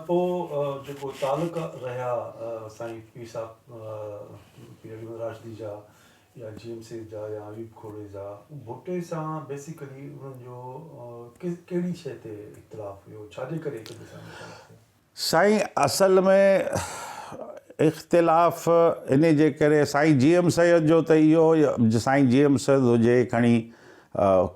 پوء جيڪو تعلق رهيا سائين پير صاحب پير علي محمد راشدي جا يا جي ايم سيد جا يا حبيب کوڙي جا ڀٽي سان بيسيڪلي انهن جو ڪهڙي شيء تي اختلاف هيو ڇا جي ڪري هڪ ٻئي سان اختلاف ٿيو سائين اصل ۾ اختلاف انهي جي ڪري سائين جي ايم سيد جو ته اهو سائين جي ايم سيد هجي کڻي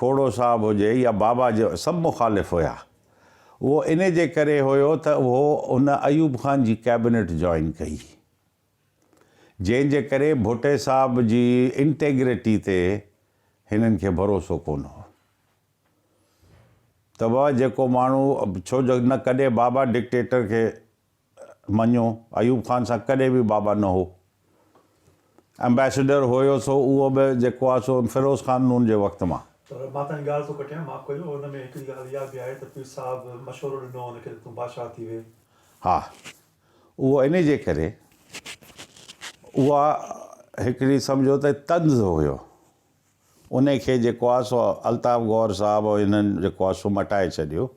کوڙو صاحب هجي يا بابا جو سڀ مخالف هيا اهو انهي جي ڪري هيو ته اهو ان ايوب خان جي ڪيبنيٽ جوائن ڪئي جنهن جي ڪري ڀٽي صاحب جي انٽيگريٽي تي هنن کي ڀروسو ڪونه هو تباھ جيڪو ماڻھو ڇو جو نه ڪڏھن بابا ڊڪٽيٽر کي مڃيو ايوب خان سان ڪڏھن به بابا نه ھو امبيسيڊر ھيو سو اھو به جيڪو آ سو فيروز خان نون جي وقت مان. پر مان تنھنجي ڳالھ ٿو ڪٽيان معاف ڪجو ان ۾ ھڪڙي ڳالھ اھا به آھي ته پير صاحب مشورو ڏنو ان کي ته تون بادشاھ ٿي ويھ. ھا اھو انھي جي ڪري اھا ھڪڙي سمجھو ته طنز ھيو انهي کي جيڪو آ سو الطاف غور صاحب هنن جيڪو آ سو مٽائي ڇڏيو.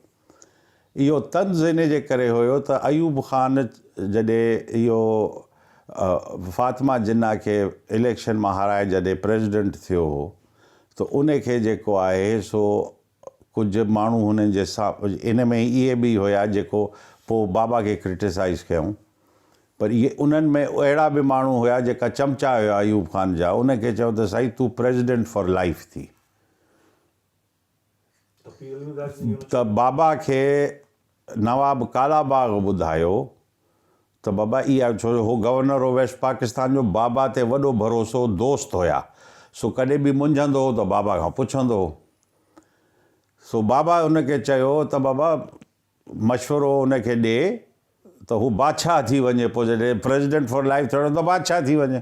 اهو طنز انهي جي ڪري هيو ته ايوب خان جڏهن اهو فاطمه جناح کي اليڪشن مان هارائي جڏهن پريزيڊنٽ ٿيو هو ته انهي کي جيڪو آهي سو ڪجهه ماڻهو هنن جي سا ان ۾ اهي به هيا جيڪو پو بابا کي ڪرٽيسائيز ڪيائون پر اهي انهن ۾ اهڙا به ماڻهو هيا جيڪا چمچا هيا ايوب خان جا ان کي چيو ته سائين تون پريزيڊنٽ فار لائيف ٿي ته بابا کي نواب ڪالا باغ ٻڌايو ته بابا اها ڇو جو هو گورنر آف ويسٽ پاڪستان جو بابا تي وڏو ڀروسو دوست هيا سو ڪڏهن به منجهندو هو ته بابا کان پڇندو هو سو بابا ان کي چيو ته بابا مشورو ان کي ڏي ته هو بادشاهه ٿي وڃي پوء جڏهن پريزيڊنٽ فار لائف ٿيڻو ته بادشاهه ٿي وڃي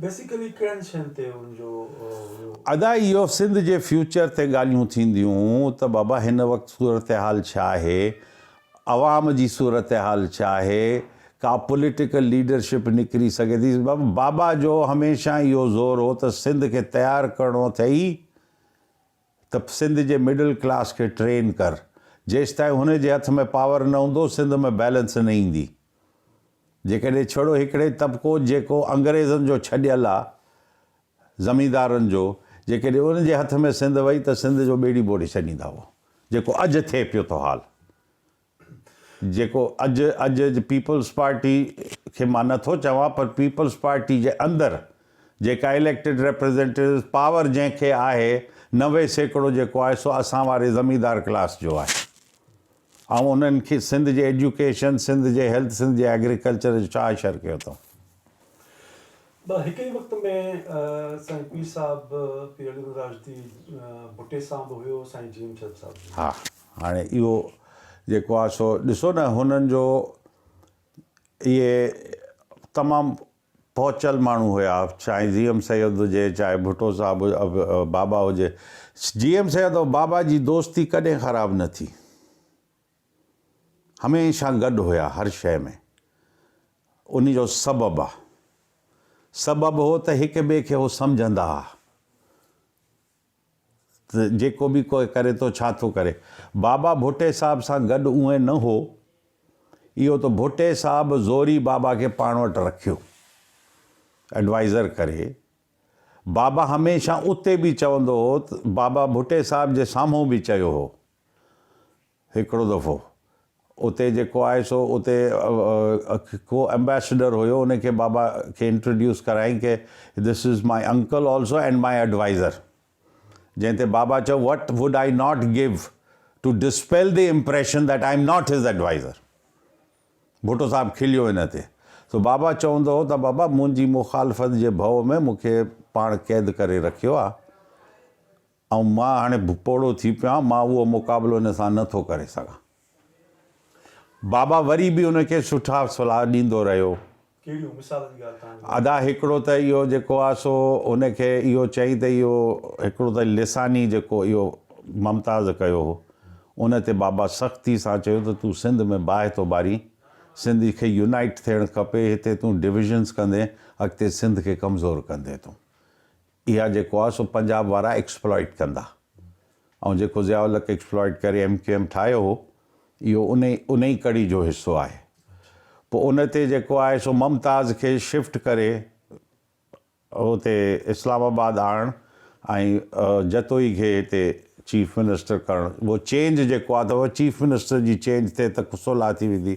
بيسيڪلي ڪهڙن شين تي ان جو هيو؟ ادا اهو سنڌ جي فيوچر تي ڳالهيون ٿينديون ته بابا هن وقت صورتحال ڇا آهي عوام جي صورتحال ڇا آهي ڪا پوليٽيڪل ليڊرشپ نڪري سگهي ٿي بابا جو هميشه اهو زور هو ته سنڌ کي تيار ڪرڻو اٿئي ته سنڌ جي مڊل ڪلاس کي ٽرين ڪر جيستائين هن جي هٿ ۾ پاور نه هوندو سنڌ ۾ بيلنس نه ايندي جيڪڏهن ڇڙو هڪڙي طبقو جيڪو انگريزن جو ڇڏيل آ زميندارن جو جيڪڏهن ان جي هٿ ۾ سنڌ وئي ته سنڌ جو ٻيڙي ٻوڙي ڇڏيندا هو جيڪو اڄ ٿئي پيو ٿو حال جيڪو اڄ اڄ پيپلز پارٽي کي مان نه ٿو چوان پر پيپلز پارٽي جي اندر جيڪا اليڪٽيڊ ريپريزينٽيوز پاور جنهن کي آهي نوي سيڪڙو جيڪو آهي سو اسان واري زميندار ڪلاس جو آهي ۽ انهن کي سنڌ جي ايجوڪيشن سنڌ جي هيلٿ سنڌ جي ايگريڪلچر جو ڇا اشر ڪيو اٿئون. بس هڪ ئي وقت ۾ سائين پير صاحب پير علي نور راشدي ڀٽي سان به هيو سائين جي ايم چند صاحب جي. ها. هاڻي اهو جيڪو آهي سو ڏسو نه هنن جو اهي تمام پهچل ماڻهو هيا چاهي جي ايم سيد هجي چاهي ڀٽو صاحب بابا هجي جي ايم سيد او بابا جي دوستي ڪڏهن خراب نه ٿي هميشه گڏ هيا هر شي ۾ ان جو سبب سبب هو ته هڪ ٻئي کي هو سمجهندا ته جيڪو به ڪوئي ڪري ٿو ڇا ٿو ڪري. بابا ڀٽي صاحب سان گڏ اونئين نه هو. اهو ته ڀٽي صاحب زوري بابا کي پاڻ وٽ رکيو ايڊوائيزر ڪري. بابا هميشه اتي به چوندو هو ته بابا ڀٽي صاحب جي سامهون به چيو هو هڪڙو دفعو اتي جيڪو آهي سو اتي ڪو امبيسڊر هيو ان کي بابا کي انٽروڊيوس ڪرايائين ڪي this is my uncle also and my adviser جنهن تي بابا چيو what would I not give to dispel the impression that I am not his adviser Bhutto صاحب کليو ان تي سو بابا چوندو هو ته بابا منهنجي مخالفت جي ڀؤ ۾ مون کي پاڻ قيد ڪري رکيو آهي ۽ مان هاڻي پوڙهو ٿي پيو آهيان، مان اهو مقابلو ان سان نه ٿو ڪري سگهان. بابا وري به ان کي سٺا صلاح ڏيندو رهيو. ڪهڙيون مثالن جي ڳالهه توهان جي ذهن ۾ ادا هڪڙو ته اهو جيڪو آهي سو ان کي اهو چئي ته اهو هڪڙو ته لساني جيڪو اهو ممتاز ڪيو هو ان تي بابا سختي سان چيو ته تون سنڌ ۾ باهه ٿو ٻارين، سنڌ کي يونائيٽ ٿيڻ کپي، هتي تون ڊويزنس ڪندين اڳتي سنڌ کي ڪمزور ڪندين تون. اها جيڪو آهي سو پنجاب وارا ايڪسپلائيٽ ڪندا ۽ جيڪو ضياء الحق ايڪسپلائيٽ ڪري ايم ڪيو ايم ٺاهيو هو اهو ان ئي ان ئي ڪڙي جو حصو آهي پوء ان تي جيڪو آهي سو ممتاز کي شفٽ ڪري هتي اسلام آباد آڻڻ ۽ جتوئي کي هتي چيف منسٽر ڪرڻ اهو چينج جيڪو آهي ته چيف منسٽر جي چينج تي ته صلح ٿي ويندي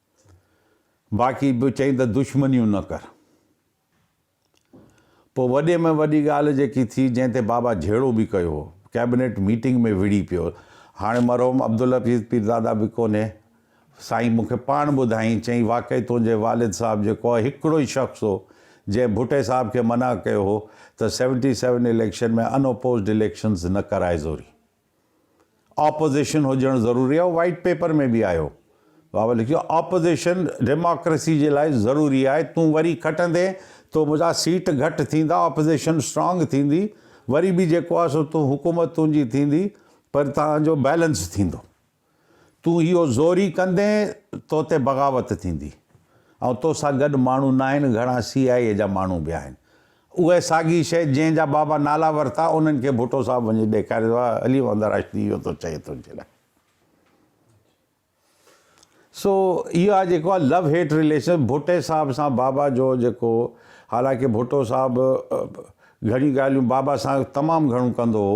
باقي به چئين ته دشمنيون نه ڪر. پوء وڏي ۾ وڏي ڳالهه جيڪي ٿي جنهن تي بابا جهيڙو به ڪيو هو، ڪيبنيٽ ميٽنگ ۾ وڙهي پيو. هاڻي مرحوم عبدالحفيظ پيرزاده به ڪونهي. سائين مون کي پاڻ ٻڌائين، چئين واقعي تنهنجي والد صاحب جيڪو هو هڪڙو ئي شخص هو جنهن ڀٽي صاحب کي منع ڪيو هو ته seventy seven election ۾ unopposed elections نه ڪرائي زوري. آپوزيشن هجڻ ضروري آهي وائيٽ پيپر ۾ به آيو بابا لکيو آپوزيشن ڊيماڪريسي جي لاء ضروري آهي تون وري کٽندين تو منهنجا سيٽ گهٽ ٿيندا آپوزيشن اسٽرانگ ٿيندي وري به جيڪو آهي سو تون حڪومت تنهنجي ٿيندي پر تنهنجو بيلنس ٿيندو. تون اهو زوري ڪندين تو تي بغاوت ٿيندي ۽ تو سان گڏ ماڻهو ناهن گهڻا سي آء اي جا ماڻهو به آهن اهي ساڳي شيء جنهن جا بابا نالا ورتا انهن کي ڀٽو صاحب وڃي ڏيکاري ته علي محمد راشدي اهو ٿو چئي تنهنجي لاء سو اهو آ جيڪو آ لو هيٽ رليشن ڀٽي صاحب سان بابا جو جيڪو حالانڪه ڀٽو صاحب گهڻي ڳالهيون بابا سان تمام گهڻو ڪندو هو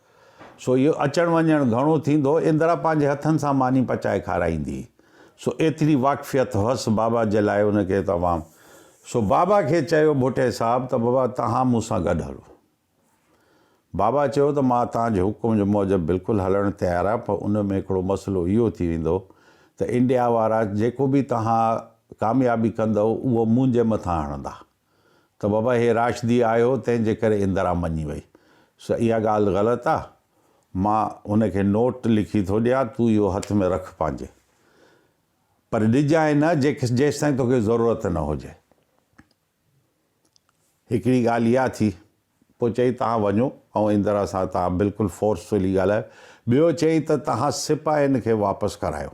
سو اهو اچڻ وڃڻ گهڻو ٿيندو. اندرا پنهنجي هٿن سان ماني پچائي کارائيندي. سو ايتري واقفيت هئس بابا جي لاء ان کي ته عوام سو بابا کي چيو ڀٽي صاحب ته بابا توهان مون سان گڏ هلو. بابا چيو ته مان توهان جي حڪم جي موجب بلڪل هلڻ تيار آهيان پر ان ۾ هڪڙو مسئلو اهو ٿي ويندو ته انڊيا وارا جيڪو به توهان ڪاميابي ڪندؤ اهو منهنجي مٿان هڻندا. ته بابا هي راشدي آيو تنهن جي ڪري اندرا مڃي وئي. سو اها ڳالهه غلط آ. مان هن کي نوٽ لکي ٿو ڏيان تون اهو هٿ ۾ رک پنهنجي. پر ڏجانء نه جيستائين توکي ضرورت نه هجي. هڪڙي ڳالهه اها ٿي. پوء چيائين توهان وڃو آئون اندرا سان توهان بلڪل فورسفلي ڳالهايو. ٻيو چيائين ته توهان سپاهين کي واپس ڪرايو.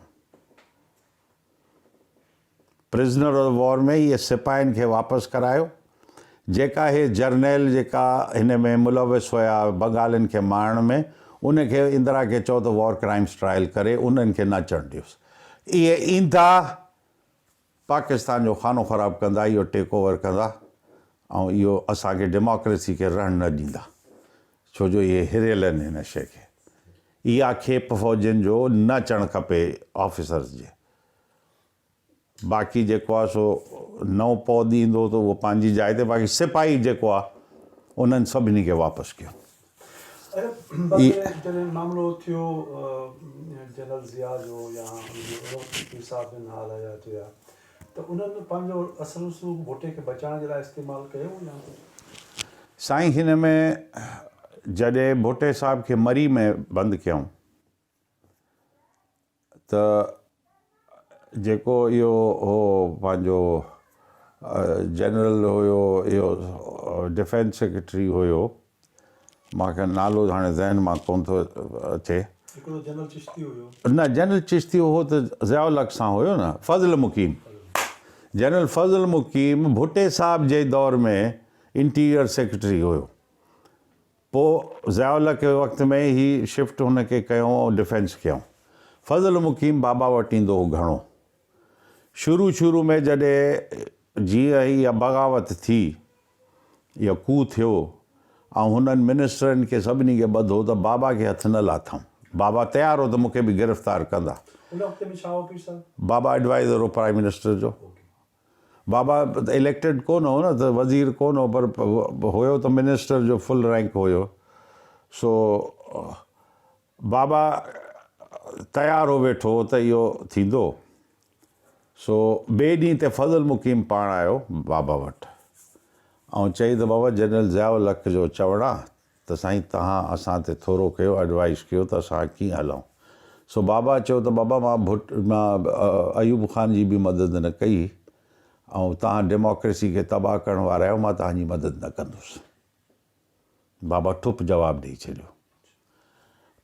پرزنر آف وار ۾ اهي سپاهين کي واپس ڪرايو جيڪا اهي جرنيل جيڪا هن ۾ ملوث هيا بنگالين کي مارڻ ۾ ان کي اندرا کي چئو ته وار ڪرائمس ٽرائل ڪري انهن کي نه اچڻ ڏيوس اهي ايندا پاڪستان جو خانو خراب ڪندا اهو ٽيڪ اوور ڪندا ۽ اهو اسان کي ڊيموڪريسي کي رهڻ نه ڏيندا ڇو جو اهي هريل آهن هن شي کي اها کيپ فوجين جو نه اچڻ کپي آفيسرز جي باقي جيڪو آهي سو نئون پود ايندو ته اهو پنهنجي جاء تي باقي سپاهي جيڪو آهي انهن سڀني کي واپس ڪيو ته انهن پنهنجو اصل رسوخ ڀٽي کي بچائڻ جي لاء استعمال ڪيو يا ڪجهه. سائين هن ۾ جڏهن ڀٽي صاحب کي مري ۾ بند ڪيائون ته جيڪو اهو هو پنهنجو جنرل هيو اهو ڊفينس سيڪريٽري هيو مان کي نالو هاڻي ذهن مان ڪونه ٿو اچي. هڪڙو جنرل چشتي هيو. نه جنرل چشتي هو ته ضياء الحق سان هيو نه فضل مقيم جنرل فضل مقيم ڀٽي صاحب جي دور ۾ انٽيريئر سيڪريٽري هيو پو ضياء الحق جي وقت ۾ هي شفٽ هن کي ڪيو ڊفينس ڪيو فضل مقيم بابا وٽ ايندو هو گهڻو شروع شروع ۾ جڏهن جيئن هي بغاوت ٿي اهو ڪوهه ٿيو ۽ هنن منسٽرن کي سڀني کي ٻڌو ته بابا کي هٿ نه لاٿائون. بابا تيار هو ته مون کي به گرفتار ڪندا. ان وقت ۾ ڇا هو پير صاحب؟ بابا ايڊوائيزر هو پرائيم منسٽر جو. بابا اليڪٽيڊ ڪو نه هو نه ته وزير ڪو نه هو پر هيو ته منسٽر جو فل رينڪ هيو سو بابا تيار هو ويٺو هو ته اهو ٿيندو، سو ٻئي ڏينهن تي فضل مقيم پاڻ آيو بابا وٽ ۽ چيائين ته بابا جنرل ضياء الحق جو چوڻ آ ته سائين توهان اسان تي ٿورو ڪيو ايڊوائيس ڪيو ته اسان ڪيئن هلون سو بابا چيو ته بابا مان ڀٽ مان ايوب خان جي به مدد نه ڪئي ۽ توهان ڊيموڪريسي کي تباهه ڪرڻ وارا آهيو مان توهان جي مدد نه ڪندس. بابا ٺپ جواب ڏئي ڇڏيو.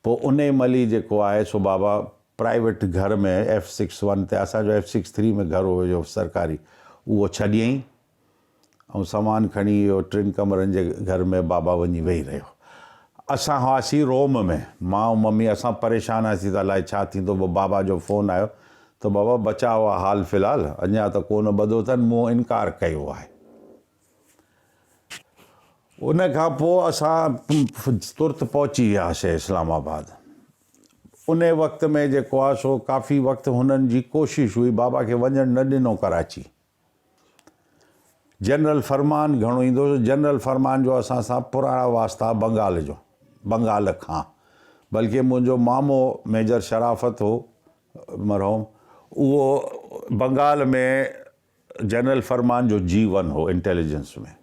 پوء انهي مهل ئي جيڪو آهي سو بابا پرائيويٽ گهر ۾ ايف سڪس ون تي اسان جو ايف سڪس ٿري ۾ گهر هيو سرڪاري اهو ڇڏيائين ۽ سامان کڻي اهو ٽن ڪمرن جي گهر ۾ بابا وڃي ويهي رهيو. اسان هئاسين روم ۾ مان ۽ ممي اسان پريشان هئاسين ته الائي ڇا ٿيندو پوء بابا جو فون آيو ته بابا بچاء آ حال في الحال اڃان ته ڪونه ٻڌو اٿن مون انڪار ڪيو آهي. ان کان پوء اسان ترت پهچي وياسي اسلام آباد ان وقت ۾ جيڪو آهي سو ڪافي وقت هنن جي ڪوشش هئي بابا کي وڃڻ نه ڏنو ڪراچي جنرل فرمان گهڻو ايندو هو جنرل فرمان جو اسان سان پراڻا واسطا بنگال جو بنگال کان بلڪه منهنجو مامو ميجر شرافت هو مرحوم اهو بنگال ۾ جنرل فرمان جو جي ون هو انٽيليجنس ۾،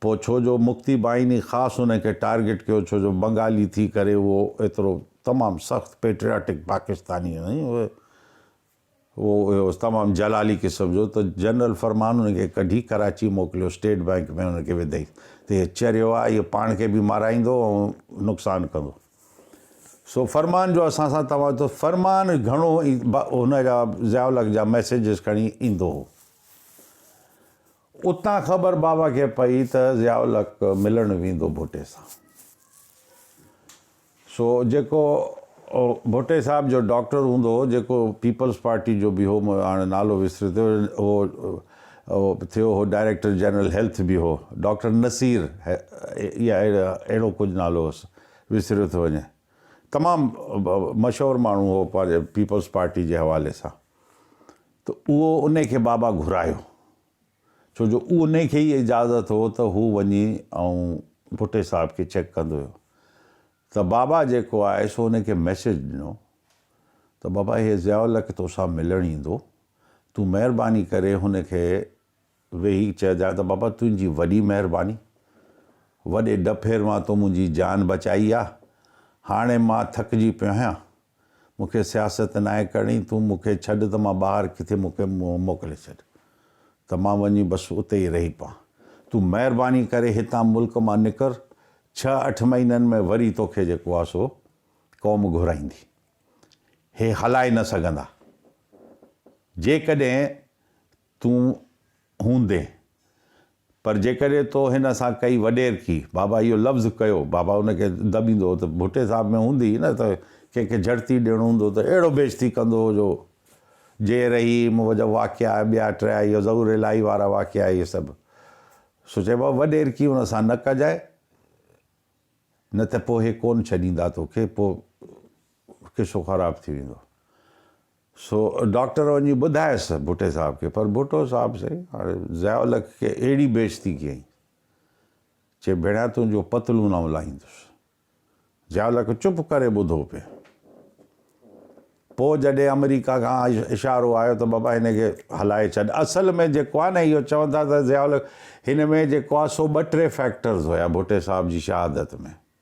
پوء ڇو جو مڪتي بائيني خاص ان کي ٽارگيٽ ڪيو ڇو جو بنگالي ٿي ڪري اهو ايترو تمام سخت پيٽرياٽڪ پاڪستاني هئي ۽ اهو هو تمام جلالي قسم جو ته جنرل فرمان ان کي ڪڍي ڪراچي موڪليو اسٽيٽ بئنڪ ۾ ان کي وڌئي ته هي چريو آهي هي پاڻ کي به مارائيندو ۽ نقصان ڪندو. سو فرمان جو اسان سان توهان جو فرمان گهڻو هن جا ضياء الحق جا ميسيجز کڻي ايندو هو اتان خبر بابا کي پئي ته ضياء الحق ملڻ ويندو ڀٽي سان سو جيڪو ڀٽي صاحب جو ڊاڪٽر هوندو هو جيڪو پيپلز پارٽي جو به هو هاڻي نالو وسري ٿيو هو هو ٿيو هو ڊائريڪٽر جنرل هيلٿ به هو ڊاڪٽر نصير يا اهڙو ڪجهه نالو هوس وسريو ٿو وڃي تمام مشهور ماڻهو هو پنهنجي پيپلز پارٽي جي حوالي سان ته اهو انهي کي بابا گهرايو ڇو جو انهي کي ئي اجازت هو ته هو وڃي ۽ ڀٽي صاحب کي چيڪ ڪندو هيو ته بابا جيڪو آهي سو انهي کي ميسيج ڏنو ته بابا هي ضياء الحق توسان ملڻ ايندو تون مهرباني ڪري هن کي ويهي چئجان ته بابا تنهنجي وڏي مهرباني، وڏي ڏڦير مان تو منهنجي جان بچائي آ، هاڻي مان ٿڪجي پيو آهيان، مون کي سياست ناهي ڪرڻي، تون مون کي ڇڏ ته مان ٻاهر ڪٿي مون کي موڪلي ڇڏ ته مان وڃي بس اتي ئي رهي پوان، تون مهرباني ڪري هتان ملڪ مان نڪر، ڇهه اٺ مهينن ۾ وري توکي جيڪو آ سو قوم گهرائيندي، هي هلائي نه سگهندا، جيڪڏهن تون هوندين، پر جيڪڏهن تو هن سان ڪئي وڏيرڪي، بابا اهو لفظ ڪيو، بابا ان کي دٻيندو هو ته ڀٽي صاحب ۾ هوندي هئي نه ته ڪنهن کي جهڙتي ڏيڻو هوندو ته اهڙو بيعزتي ڪندو هو جو جي رحيم جا واقعا ٻيا ٽيا اهي ظهور الاهي وارا واقعا اهي سڀ سو چئبو هو وڏيرڪي ان سان نه ڪجانء نه ته پوء هي ڪونه ڇڏيندا توکي پوء قصو خراب ٿي ويندو. سو ڊاڪٽر وڃي ٻڌايس ڀٽي صاحب کي، پر ڀٽو صاحب سائين هاڻي ضياء الحق کي اهڙي بيعزتي ڪيائين، چي ڀيڻيا تنهنجو پتلون آئون لاهيندس. ضياء الحق چپ ڪري ٻڌو پئي. پوء جڏهن آمريڪا کان اشارو آيو ته بابا هن کي هلائي ڇڏ. اصل ۾ جيڪو آهي نه اهو چون ٿا ته ضياء الحق هن ۾ جيڪو آهي سو ٻه ٽي فيڪٽرز هيا ڀٽي صاحب جي شهادت ۾.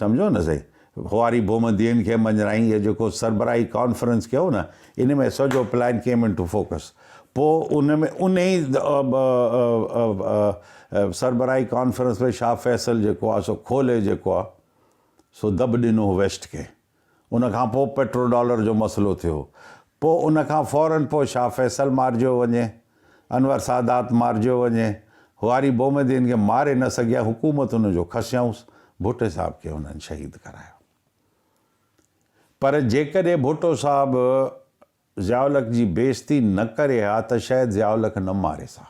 سمجهيو نه سهي. خواري بوم دين کي مڃرائين هي جيڪو سربراهي ڪانفرنس ڪيو نه ان ۾ سڄو پلان ڪيم انٽو فوڪس پو ان ۾ انهي سربراهي ڪانفرنس ۾ شاهه فيصل جيڪو آ سو کولي جيڪو آ سو دٻ ڏنو هو ويسٽ کي ان کان پوء پيٽرو ڊالر جو مسئلو ٿيو. پوء ان کان فورن پوء شاهه فيصل مارجيو وڃي، انور سادات مارجيو وڃي، هواري بومدين کي ماري نه سگهيا حڪومت ان جو کسيائونس، ڀٽي صاحب کي انهن شهيد ڪرايو. پر جيڪڏهن ڀٽو صاحب ضياء الحق جي بيعزتي نه ڪري ها ته شايد ضياء الحق نه ماري سا.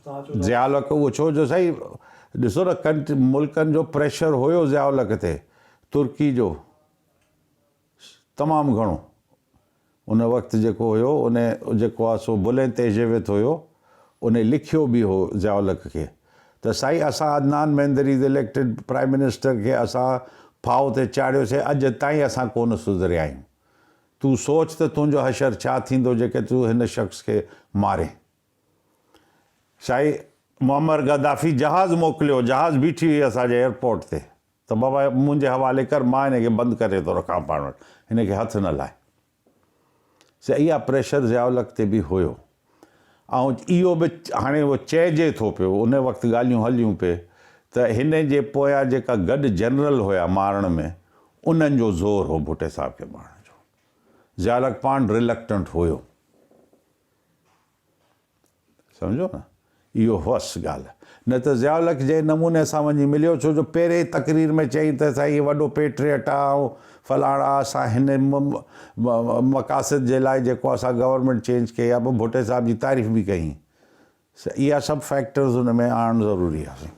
ضياء الحق اهو ڇو جو سائين ڏسو نه ڪن ملڪن جو پريشر هيو ضياء الحق تي ترڪي جو تمام گهڻو ان وقت جيڪو هيو ان جيڪو آ سو بلين تيجيويت هيو ان لکيو به هو ضياء الحق کي ته سائين اسان Adnan Mendri the elected prime minister کي اسان ڦاهو تي چاڙهيو سي اڄ تائين اسان ڪون سڌريا آهيون تون سوچ ته تنهنجو حشر ڇا ٿيندو جيڪي تون هن شخص کي مارين. سائين معمر گدافي جهاز موڪليو، جهاز بيٺي هئي اسان جي ايئرپورٽ تي ته بابا منهنجي حوالي ڪر مان هن کي بند ڪري ٿو رکان پاڻ وٽ هن کي هٿ نه لائي. سائين اها پريشر ضياء الحق تي به هيو. ۽ اهو به هاڻي اهو چئجي ٿو پيو، ان وقت ڳالهيون هليون پي ته هن جي پويان جيڪا گڏ جنرل هيا مارڻ ۾ انهن جو زور هو ڀٽي صاحب کي مارڻ جو. ضياءالحق پاڻ Reluctant هيو. سمجهيو نه؟ اهو هئس ڳالهه، نه ته ضياء الحق جنهن نموني سان وڃي مليو، ڇو جو پهرين ئي تقرير ۾ چيائين ته اسان هي وڏو پيٽريٽ آ ۽ فلاڻا آ، اسان هن مقاصد جي لاء جيڪو اسان گورنمينٽ چينج ڪئي آ، پوء ڀٽي صاحب جي تعريف به ڪيائين. اها سڀ فيڪٽرز ان ۾ آڻڻ ضروري آ سائين.